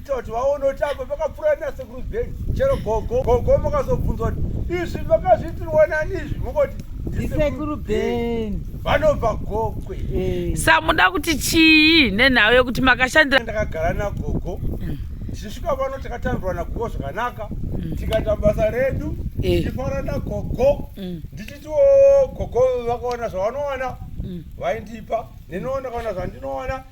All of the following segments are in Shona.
toti vaona kuti apo pakapfuura nasekuru zeni chero gogo gogo makazobvunzwa kuti izvi makazviitirwa nani izvi mukoti ndisekuru beni vanobva gokwe eh. samuda kuti chii nenhau yekuti makashandira ndakagara nagogo mm. tichisvika pano takatandirwa nagogo zvakanaka mm. tikaita basa redu eh. tichifara nagogo mm. ndichitiwo gogo vakaona zvavanoona vaindipa nenoona kaona zvandinoona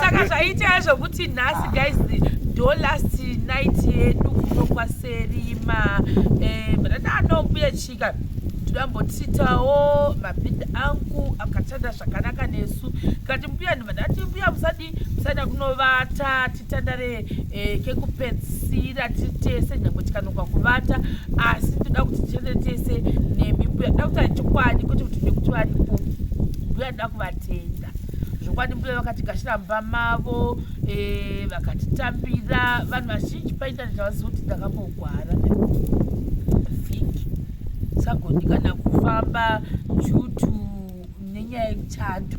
saka zvaiitaya zvokuti nhasi guys do last night yedu kuno kwaserima eh, bradha anombuya chika toyambotiitawo mabhidha angu akatanda zvakanaka nesu kati mbuyani vandati mbuya musadi musada kunovata titandare eh, kekupedzisira tiri tese nyangwe tikanoka kuvata asi toda kuti tiende tese nemi mbuya da kuti achikwadi kwete kuti nekuti varipo mbuya da kuvatenda zvokwadi mbuya vakatigashira mumba mavo eh, vakatitambira vanhu vazhinji paintaneti avazivi kuti ndakambogwara vhiki sagoni kana kufamba due to nenyaya yemuchando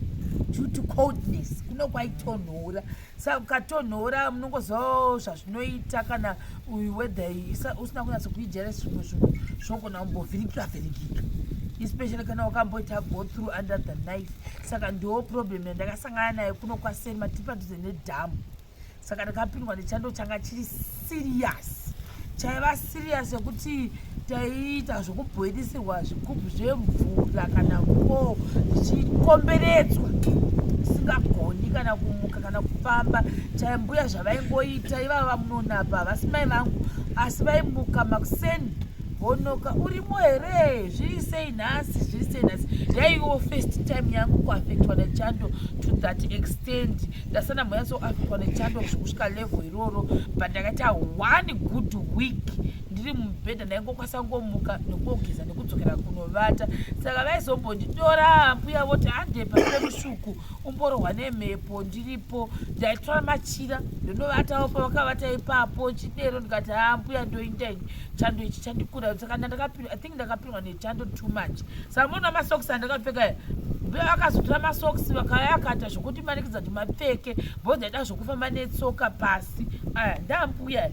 due to coldness kuno kwaitonhora sa ukatonhora munongozivawo zvazvinoita kana uyu wedha usina kunatsa kuijera zvimwe zvinhu zvogona kumbovhiringika vhiringika especially kana wakamboita go through under the knife saka ndiwo problem yandakasangana nayo kuno kwaseni matipadhuze nedhamu saka ndakapindwa nechando changa chiri serious chaiva serious yekuti taiita zvekubhoilisirwa zvigubhu zvemvura kana ko zvichikomberedzwa isingagoni kana kumuka kana kufamba chaimbuya zvavaingoita ivava munonapa havasi mai vangu asi vaimuka makuseni honoka urimo here zviri sei nhasi zviri sei nhasi yaiwo first time yangu kuafectwa nechando to that extent ndasati ndamboyatsoafitwa nechando kusvika level iroro but ndakaita one good week ndiri mubhedha ndaingokwanisa kungomuka nekugeza nekudzokera kunovata saka vaizombonditora mbuya voti hande pasire musvuku umborohwa nemhepo ndiripo ndaitora machira ndonovatawo pavakavata ipapo chidero ndikati haa mbuya ndoindaini chando ichi chandikura saka ndandakapindwa ndakapihwa nechando too much samona masokisi andakapfeka akazotora masokisi vakaya akaita zvokuti manikidza kuti mapfeke bhozi aida zvokufamba netsoka pasi aya ndambuya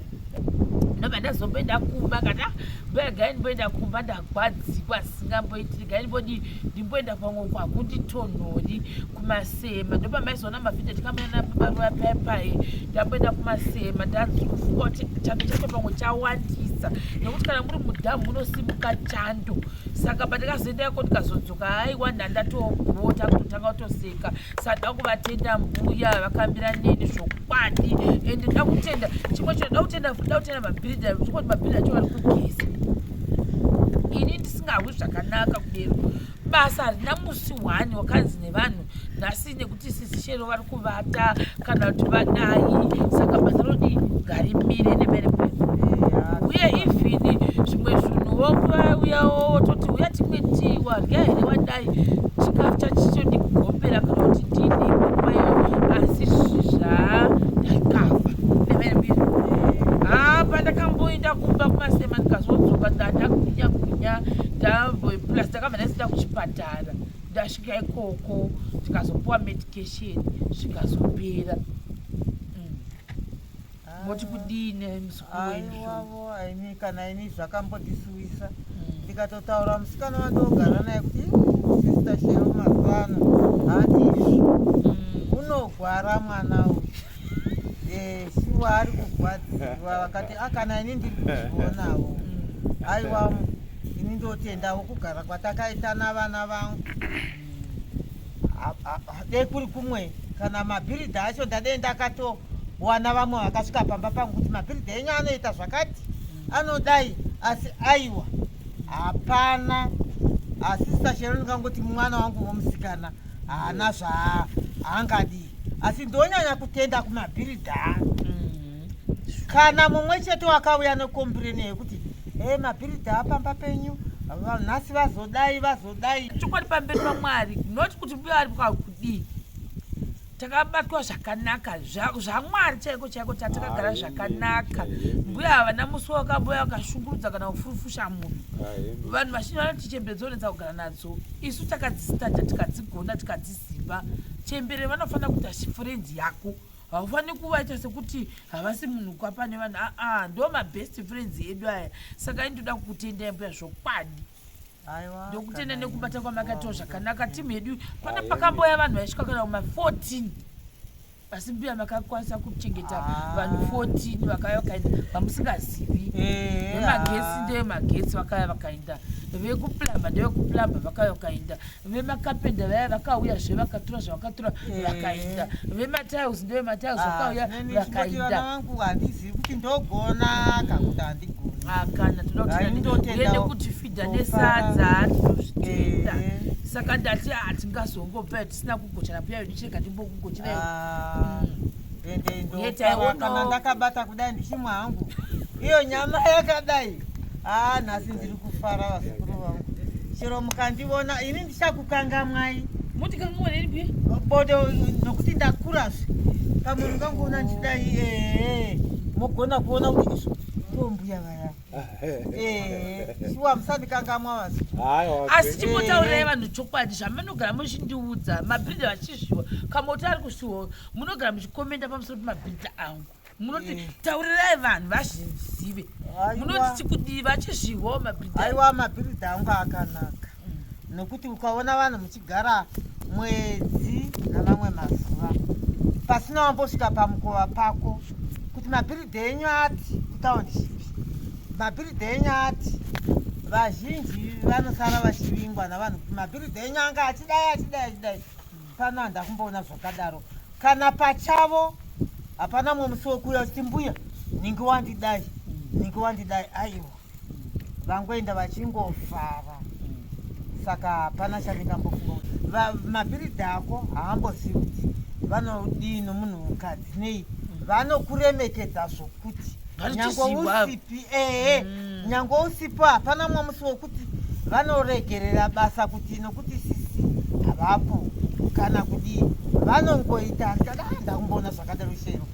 ndobva ndazomboenda kumba kata mbuya gai ndimboenda kumba ndagwadzikwa singamboitiri gai ndimbodii ndimboenda kwangu uko hakunditonhori kumasema ndopamaizoona mavhideo tikamboenda nababaruva paya paye ndamboenda kumasema ndakufuka kuti chando chacho pamwe chawandisa nekuti kana muri mudhamu munosimuka chando saka pandikazoenda yako ndikazodzoka aiwa ndandatogota kutotanga kutoseka sada kuvatenda mbuya vakambira neni zvokwadi ende da kutenda chimwe chino da kutenda da kutenda mabhirida zvokoti mabhirida acho vari kugeza ini ndisingahwi zvakanaka kudero basa harina musi one wakanzi nevanhu nhasi nekuti sisi shero vari kuvata kana kuti vadai saka basa rodi ngarimire nemere kwedu uye even zvimwe zvinhu wouyawo wototi uya timwe tii wadya here wadai chikafu chachitodi kugombera kana kuti ndini kwayo asi zvizva ndakava nemere mbiri haa pandakamboinda kumba kumasema ndikazodzoka ndaa ndagwinya gwinya ndambo plus ndakabva ndaisita kuchipatara ndasvika ikoko tikazopuwa medication zvikazopera hmm. moti kudii nemusukuwavo aimi kana ini zvakambondisuwisa hmm. ndikatotaura musikana wandogara naye kuti sister shero mazuvano hati izvi hmm. unogwara mwana uyu Eh, shuwa ari kurwadziwa vakati akana ah, ini ndiri kuzvionawo aiwa ini ndotendawo kugara kwatakaita navana vangu dei kuri kumwe kana mabhiridha acho ndadei ndakatowana vamwe vakasvika pamba pangu kuti mabhiridha enyu anoita zvakati anodai asi aiwa hapana asi sasheroni kangoti mwana wangu womusikana haana zvaangadi asi ndonyanya kutenda kumabhiridha mm. kana mumwe chete wakauya nekombireni yekuti e mabhiridha apamba penyu nhasi vazodai vazodai chokwadi pamberi pamwari not kuti mbuya ari kudii takabatwa zvakanaka zvamwari chaiko chaiko tatakagara zvakanaka mbuya havana musi wakambuya vakashungurudza kana kufurufusha munhu vanhu vazhinji vanoti chembedzonetsa kugara nadzo isu takadzisitadha tikadzigona tikadzi Simba chembere vanofanira kuita friends yako haufaniri kuvaita sekuti havasi munhu kwapa nevanhu aa ah, ah, ndo mabest friends edu aya saka indoda kukutendai mbuya zvokwadi ndokutenda nekubata kwamakatiwo zvakanaka timu yedu pana pakamboya vanhu vaisvika kana kuma 14 asi mbuya makakwanisa kuchengeta ah. vanhu 14 vakaya vakaenda vamusingazivi eh, vemagesi ah. ndevemagetsi vakaya vakaenda vekuplamba ndevekuplamba vakaya vakaenda vemakapenda vaya vakauya zve vakatura zvavakatura eh. vakaenda vematiles ndevematiles ah, vakauya vakaendaandizivi kuti ndogona kana kuti handigoni kana todaende kuti fidha nesadza tinozvitenda eh. saka ndati hatingazongopet sina kugochana pia yo ndichirega ndimbokugochera yo Ah, Mm. ende ndo- Yet I won't kana know. ndakabata kudai ndichimwa hangu iyo nyama yakadai aa nhasi ndiri kufara vazukuru vangu chero mukandivona ini ndichakukangamwai muti kamuoneni pia bodo nokuti ndakurazve pamunhu kanguona ndichidai ee mogona kuona kuti izvo tombuya vaya shuwa musandikangamwa vasi asi chimbotaurirai vanhu chokwadi zvamunogara muchindiudza mabhidha vachizviwa kamoti ari kushuwa munogara muchikomenda pamusoro pemabhidha angu munoti eh. taurirai vanhu vazvizive munoti tikudii vachizviwa mabhidha aiwa mabhidha angu akanaka nokuti ukaona vanhu muchigara mwedzi namamwe mazuva pasina wambosvika pamukova pako kuti mabhiridhi enyu ati kutaundiship mabhiridhi enyu ati vazhinji vanosara vachivingwa navanhu kuti mabhiridhi enyu anga achidai achidai achidai pano handa kumboona zvakadaro kana pachavo hapana mumwe musi wekuuya uchiti mbuya ningi wandidai ningi wandidai aiwa vangoenda vachingofara saka hapana chandingambofunga kuti mapiridzi ako haambozivi kuti vanodii nomunhu mukadzi nei vanokuremekedza zvokuti nyange usipi ehe mm. nyange usipo hapana mwamusi wokuti vanoregerera basa kuti nokuti sisi havapo kana kudii vanongoita ndakaenda kumboona zvakadaro chero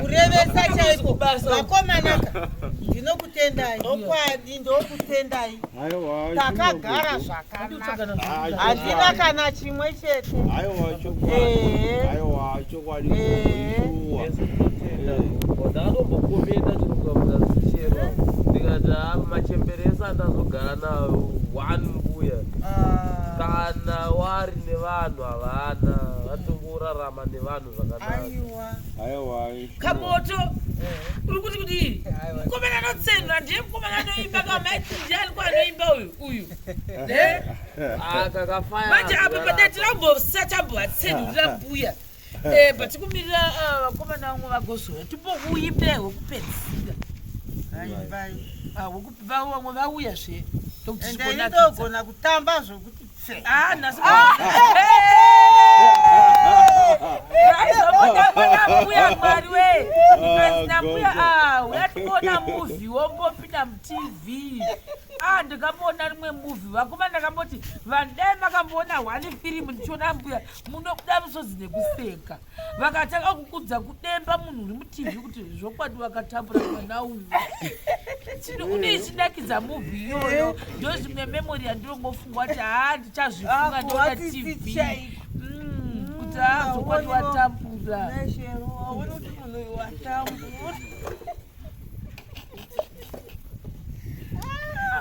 kurevesa chaiko vakomanaka ndinokutendai okwadi ndokutendai takagara zvakanaka handina kana chimwe chete ndakambokomenda chinokuamura zichero ndikati ah, machemberesa andazogara nawo one mbuya ah. kana wari nevanhu havana vatongorarama nevanhu kamoto uri kuti kudii mukomana anotsenura ndiye mukomana anoimba kamaiti ndiani ko anoimba uyu uyu eh? ah, manje apa padati rambosa tambovatsenurira mbuya eh, but kumirira ah, vakomana vamwe vagozora timbouimbe hwekupedzisira ah, vamwe vauya zve tokutiigona kutamba zvokuti Ah, nhasi ah. aizombotambonakuya mwari we azinambuya oh, ah, uyationa muvi wombopinda mutv ah, ndikamuona rimwe muvi vakoma ndakamboti vandai makamboona one firimu ndichiona mbuya munokuda musodzi nekuseka vakatanga kukudza kudemba munhu uri mutivi kuti zvokwadi vakatambura mwana uyu chino une ichinakidza muvhu iyoyo ndo zvimwe memori yandinongofunga kuti haa ndichazvifunga ndoda tv mm, kuti haa zvokwadi watambura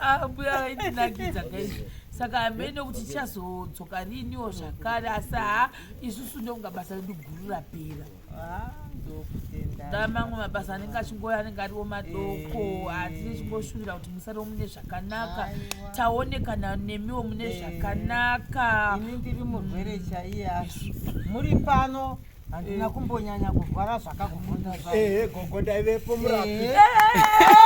ah, mbuya vaindinakidza kaizvo saka hameno kuti chazodzoka riniwo zvakare asi haa isusu ndokunga basa redu guru rapera mamwe mabasa anenge achingoya anenge ariwo madoko eh. hatisi tichingoshuvira kuti musariwo mune zvakanaka taonekana nemiwo mune eh. zvakanaka ini ndiri murwere chaiye asi muri pano handina eh. kumbonyanya kurwara zvakakuvhunda ehe gogo ndaivepo murapi